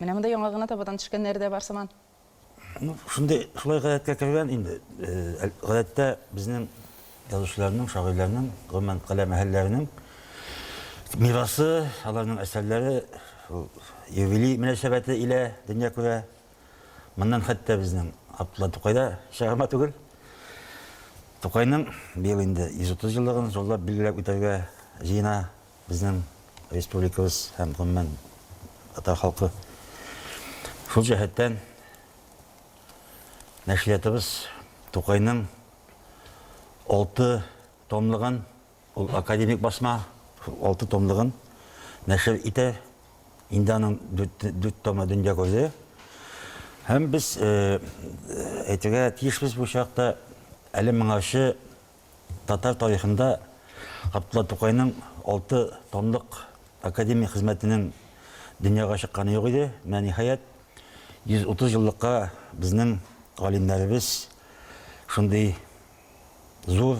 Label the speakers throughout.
Speaker 1: Менә монда яңа гына табадан төшкәннәре дә бар сыман. Ну, шундый,
Speaker 2: шулай гадәткә кергән инде. Э, гадәттә безнең язучыларның, шагыйрьләрнең, гомумән каләм әһелләренең мирасы, аларның әсәрләре юбилей мөнәсәбәте илә дөнья күрә. Моннан хәтта безнең Абдулла Тукай да чыгарма түгел. Тукайның быел инде 130 еллыгын зурлап билгеләп үтәргә җыена. Безнең республикабыз һәм гомумән татар халкы шул җәһәттән нәшриятыбыз Тукайның алты томлыгын, ул академик басма, алты томлыгын нәшер итә. Инде аның дүрт томы дөнья күрде. Һәм без әйтергә тиешбез бу чакта әле моңарчы Татар тарихында Габдулла Тукайның алты томлык академик хезмәтенең дөньяга чыкканы юк иде. Менә ниһаять, 130 еллыкка безнең галимнәребез шундый зур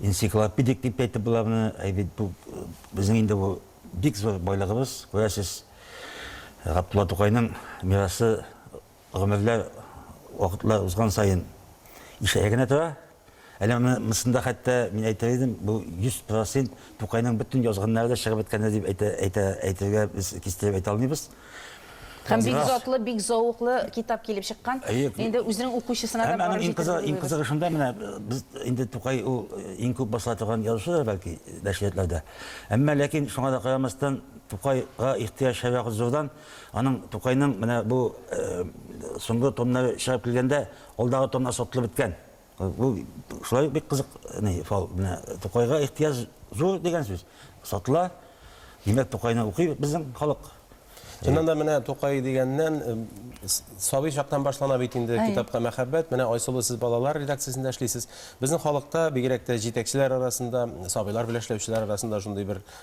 Speaker 2: энциклопедик дип әйтеп була моны, әй бит бу безнең инде бу бик зур байлыгыбыз, күрәсез, Габдулла Тукайның мирасы Гомерләр вакытлар узган саен ишәя генә тора. Әле монысында хәтта мин әйтер идем, бу 100 процент Тукайның бөтен язганнары да чыгып беткәндер дип әйтергә без кистереп әйтә алмыйбыз. Һәм бик
Speaker 1: затлы, бик зәвыклы китап килеп чыккан. Инде үзенең укучысына да барып җитеп булмый. Һәм иң кызыгы шунда, менә
Speaker 2: без инде Тукай ул иң күп басыла торган язучыдыр бәлки нәшриятларда. Әмма ләкин шуңа да карамастан, Тукайга ихтыяҗ һәрвакыт зурдан. Аның, Тукайның менә бу соңгы томнары чыгып килгәндә, алдагы томнар сатылып беткән. Бу шулай ук бик кызык ни фал. Менә Тукайга ихтыяҗ зур дигән сүз. Сатыла. Димәк, Тукайны укый безнең халык. Чыннан да
Speaker 3: менә Тукай дигәннән сабый чактан башлана бит инде китапка мәхәббәт. Менә Айсылу сез балалар редакциясендә эшлисез. Безнең халыкта, бигрәк тә җитәкчеләр арасында, сабыйлар белән эшләүчеләр арасында шундый бер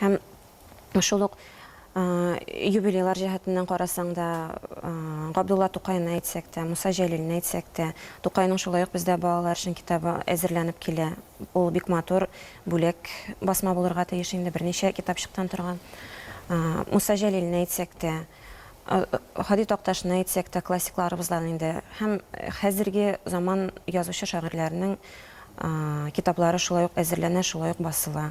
Speaker 4: Һәм шул ук юбилейлар җәһәтеннән карасаң да, Габдулла Тукайны әйтсәк тә, Муса Җәлилне әйтсәк тә, Тукайның шулай ук бездә балалар өчен китабы әзерләнеп килә. Ул бик матур бүләк басма булырга тиеш инде, берничә китапчыктан торган. Муса Җәлилне әйтсәк тә, Һади Такташны әйтсәк тә, классикларыбыздан инде. Һәм хәзерге заман язучы-шагыйрьләренең китаплары шулай ук әзерләнә, шулай ук басыла.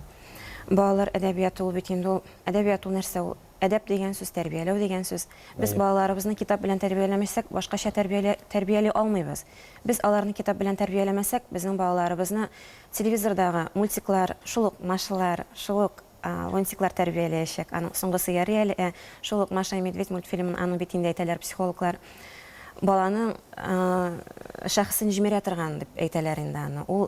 Speaker 4: Балалар әдәбияты ул бит инде ул. Әдәбият ул нәрсә ул? Әдәп дигән сүз, тәрбияләү дигән сүз. Без балаларыбызны китап белән тәрбияләмәсәк, башкача тәрбиялә, тәрбияли алмыйбыз. Без аларны китап белән тәрбияләмәсәк, безнең балаларыбызны телевизордагы мультиклар, шул ук Машалар, шул ук Лунтиклар тәрбияләячәк. Аның соңгысы ярый әле, ә шул ук Маша и Медведь мультфильмын, аны бит инде әйтәләр психологлар, баланың шәхесен җимерә торган дип әйтәләр инде аны. Ул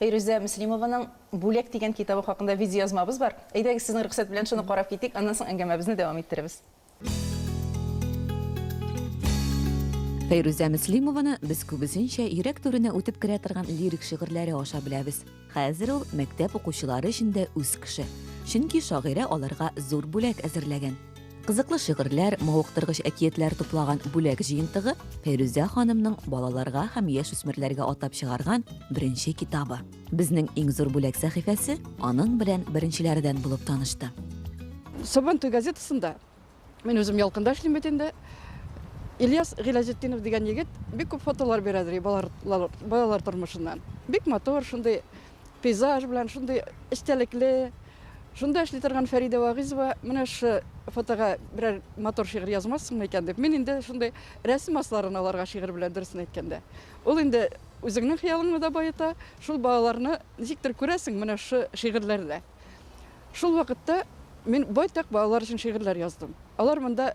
Speaker 1: Фәйрүзә Мөслимованың Бүләк дигән китабы хакында видеоязмабыз бар. Әйдәгез, сезнең рөхсәт белән шуны карап китик, аннан соң әңгәмәбезне дәвам иттерербез.
Speaker 5: Фәйрүзә Мөслимованы без күбесенчә йөрәк түренә үтеп керә торган лирик шигырьләре аша беләбез. Хәзер ул мәктәп укучылары өчен дә үз кеше. Чөнки шагыйрә аларга зур бүләк әзерләгән. Кызыклы шигырьләр, мавыктыргыч әкиятләр туплаган бүләк җыентыгы Фәйрүзә ханымның балаларга һәм яшүсмерләргә атап чыгарган беренче китабы. Безнең иң зур бүләк сәхифәсе аның белән беренчеләрдән
Speaker 6: булып
Speaker 5: танышты. Сабантуй
Speaker 6: газетасында,
Speaker 5: мин
Speaker 6: үзем Ялкында эшлим бит инде, Ильяс Гыйләҗетдинов дигән егет бик күп фотолар бирә ди балалар тормышыннан. Бик матур, шундый Пейзаж белән шундый эчтәлекле, шунда эшли торган Фәридә Вагыйзова менә шушы фотога берәр матур шигырь язмассыңмы икән дип, мин инде шундый рәсем асларын аларга шигырь белән, дөресен әйткәндә. Ул инде үзеңнең хыялыңны да баета, шул балаларны ничектер күрәсең менә шушы шигырьләрдә. Шул вакытта мин байтак балалар өчен шигырьләр яздым. Алар монда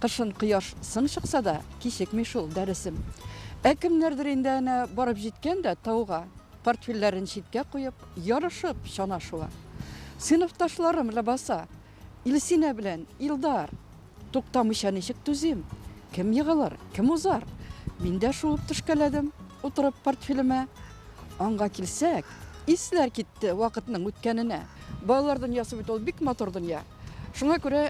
Speaker 6: Кышын кояш сын чыкса да, кичекми шул дәресем. Ә кемнәрдер инде әнә барып җиткән дә тауга, портфельләрен читкә куеп, ярышып чана шуа. Сыйныфташларым ләбаса, Илсинә белән Илдар! Туктамыйча ничек түзим? Кем егылыр, кем узар? Мин дә шуып төшкәләдем, утырып портфелемә. Аңга килсәк, исләр китте вакытның үткәненә. Балалар дөньясы бит ул бик матур дөнья. Шуңа күрә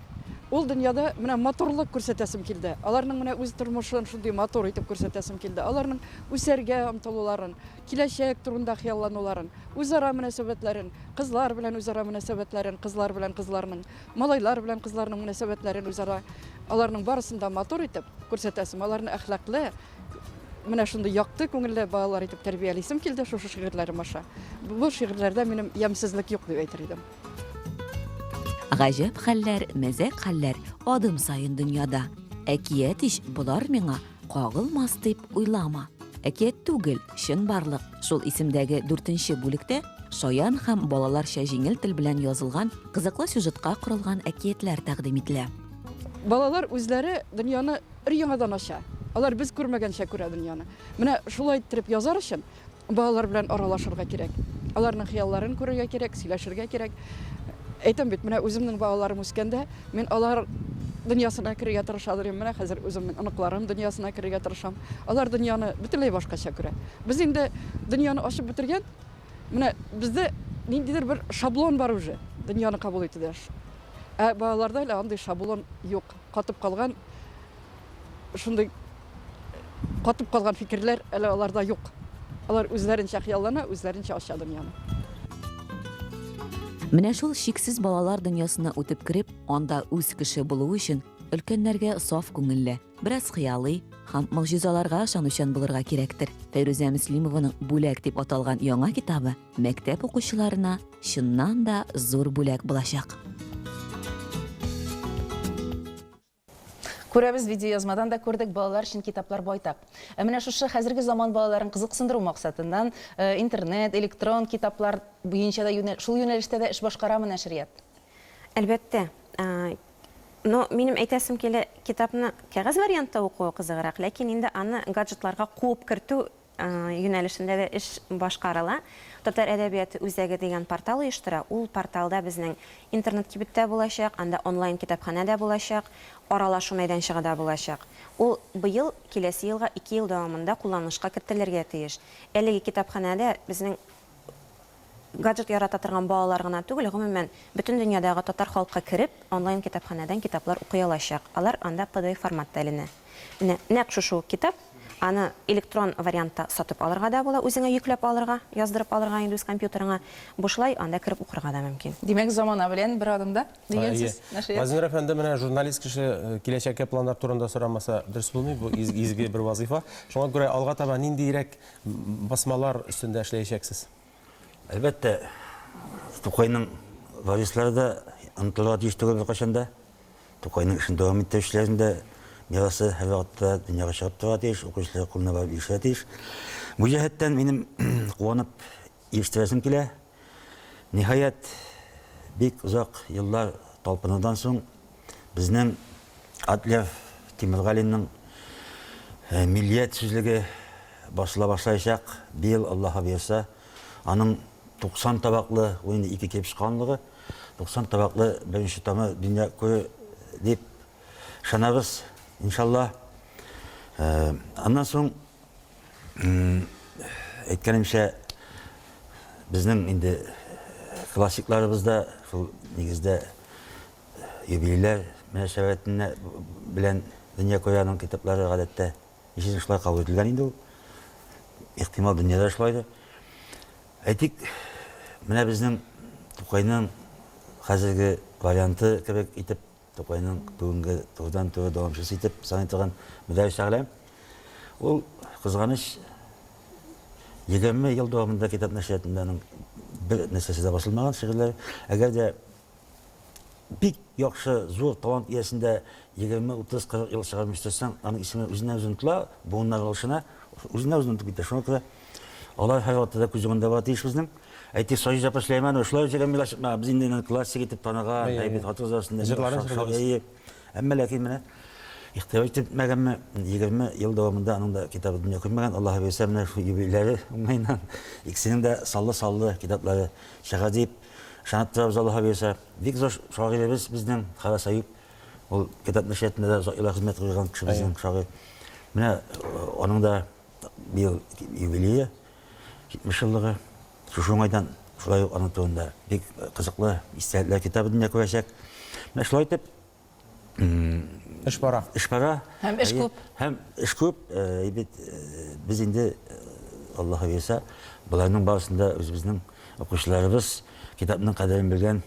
Speaker 6: ул дөньяда менә матурлык күрсәтәсем килде. Аларның менә үз тормышын шундый матур итеп күрсәтәсем килде. Аларның үсәргә омтылуларын, киләчәк турында хыяллануларын, үзара мөнәсәбәтләрен, кызлар белән үзара мөнәсәбәтләрен, кызлар белән кызларның, малайлар белән кызларның мөнәсәбәтләрен үзара, аларның барысын да матур итеп күрсәтәсем, аларны әхлаклы, менә шундый якты күңелле балалар итеп тәрбиялисем килде шушы шигырьләрем аша. Бу шигырьләрдә минем ямьсезлек юк дип әйтер идем. Гаҗәп
Speaker 5: хәлләр, мәзәк хәлләр адым саен дөньяда. Әкият ич болар миңа кагылмас дип уйлама. Әкият түгел, чын барлык. Шул исемдәге дүртенче бүлектә шаян һәм балаларча җиңел тел белән язылган кызыклы сюжетка корылган әкиятләр тәкъдим ителә. Балалар
Speaker 6: үзләре дөньяны өр-яңадан ача. Алар без күрмәгәнчә күрә дөньяны. Менә шулай иттереп язар өчен Балалар белән аралашырга кирәк. Аларның хыялларын күрергә кирәк, сөйләшергә кирәк. Әйтәм бит, менә үземнең балаларым үскәндә, мин алар дөньясына керергә тырыша идем. Менә хәзер үземнең оныкларым дөньясына керергә тырышам. Алар дөньяны бөтенләй башкача күрә. Без инде дөньяны ачып бетергән. Менә бездә ниндидер бер шаблон бар уже, дөньяны кабул итүдә. Ә балаларда әле андый шаблон юк. Катып калган шундый катып калган фикерләр әле аларда юк. Алар үзләренчә хыяллана, үзләренчә ача дөньяны.
Speaker 5: Менә шул чиксез балалар дөньясына үтеп кереп, анда үз кеше булу өчен өлкәннәргә саф күңелле, бераз хыялый һәм могҗизаларга ышанучан булырга кирәктер. Фәйрүзә Мөслимованың Бүләк дип аталган яңа китабы мәктәп укучыларына чыннан да зур бүләк булачак.
Speaker 1: Күрәбез, видеоязмадан да күрдек, балалар өчен китаплар байтак. Ә менә шушы хәзерге заман балаларын кызыксындыру максатыннан э, интернет, электрон китаплар буенча да юнәл... шул юнәлештә дә эш башкарамы нәшрият? Әлбәттә.
Speaker 4: Но минем әйтәсем килә, китапны кәгазь вариантта укуы кызыграк, ләкин инде аны гаджетларга куып кертү юнәлешендә дә эш башкарыла. Татар әдәбияты үзәге дигән портал оештыра. Ул порталда безнең интернет-кибет тә булачак, анда онлайн-китапханә дә булачак, аралашу мәйданчыгы да булачак. Ул быел, киләсе елга ике ел дәвамында кулланылышка кертелергә тиеш. Әлеге китапханәдә безнең. Гаджет ярата торган балалар гына түгел, гомумән, бөтен дөньядагы татар халкы кереп, онлайн-китапханәдән китаплар укый алачак. Алар анда pdf форматта эленә. Менә нәкъ шушы ук китап. Аны электрон вариантта сатып алырга да була, үзеңә йөкләп алырга, яздырып алырга инде үз компьютерыңа. Бушлай анда кереп укырга да мөмкин. Димәк, замана белән
Speaker 1: бер адымда, дигән сүз, нәшрият. Газинур әфәнде,
Speaker 3: менә журналист кеше киләчәккә планнар турында сорамаса, дөрес булмый, бу изге бер вазыйфа. Шуңа күрә алга таба ниндиерәк Басмалар өстендә эшләячәксез? Әлбәттә,
Speaker 2: Тукайның варислары да онытылырга тиеш түгел беркайчан да. Тукайның эшен дәвам иттерүчеләрнең дә мирасы һәрвакытта дөньяга чыгып торырга тиеш, укучылар кулына барып ирешергә тиеш. Бу җәһәттән минем куанып Ирештирәсем килә. Ниһаять, бик озак еллар талпынудан соң, безнең Адлер Тимергалинның Миллият сүзлеге басыла башлаячак, быел, Аллаһы боерса. Аның 90 табаклы, ул инде ике килеп чыга анлыгы, 90 табаклы беренче томы дөнья күрер дип ышанабыз, иншаллаһ. Аннан соң Әйткәнемчә, безнең инде классикларыбыз да шул нигездә юбилейлар мөнәсәбәтенә белән Дөнья Куянының китаплары гадәттә ничәсен шулай кабул ителгән инде ул. Ихтимал, дөньяда шулайдыр. Әйтик, менә безнең Тукайның хәзерге варианты кебек итеп Тукайның бүгенге турыдан-туры дәвамчысы итеп саный торган Мөдәрис Шәгъләм, ул, кызганыч, егерме ел дәвамында китап нәшриятында аның бер нәрсәсе дә басылмаган, шигырьләре. Әгәр дә бик яхшы, зур талант иясен дә егерме, утыз, кырык ел чыгармый үстерсәң, аның исеме үзеннән-үзе онытыла, буыннар алышына, үзеннән-үзе онытып китә. Шуңа күрә. Алар һәрвакытта да күз уңында булырга тиеш безнең. Әйтик, Саҗидә апа Сөләйманова шулай үзе гамилә чыкмаган. Без инде аны классик итеп таныган, әйбәт хатын-кыз арасында. Җырларын җырлый. Әмма ләкин менә игътибар итеп бетмәгәнме, 20 ел дәвамында аның да китабы дөнья күрмәгән. Аллаһы боерса, менә шул юбилейлары уңаеннан икесенең дә саллы-саллы китаплары чыгар дип ышанып торабыз, Аллаһы боерса. Бик зур шагыйребез безнең Харас Әюп. Ул китап нәшриятында да озак еллар хезмәт куйган кеше безнең шагыйрь. Менә аның да. Быел юбилее, 70 еллыгы. Шушы уңайдан шулай ук аның турында бик кызыклы истәлекләр китабы дөнья күрәчәк. Менә шулай итеп,
Speaker 3: Эш бара. эш бара. Һәм
Speaker 2: эш күп.
Speaker 1: Һәм эш күп.
Speaker 2: Э, Бит э, без инде э, Аллаһы бирсә, боларның барысын да үзебезнең укучыларыбыз, китапның кадерен белгән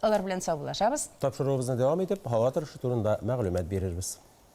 Speaker 1: Алар
Speaker 3: белән саубуллашабыз. Тапшыруыбызны дәвам
Speaker 1: итеп,
Speaker 3: һава торышы турында мәгълүмат
Speaker 1: бирербез.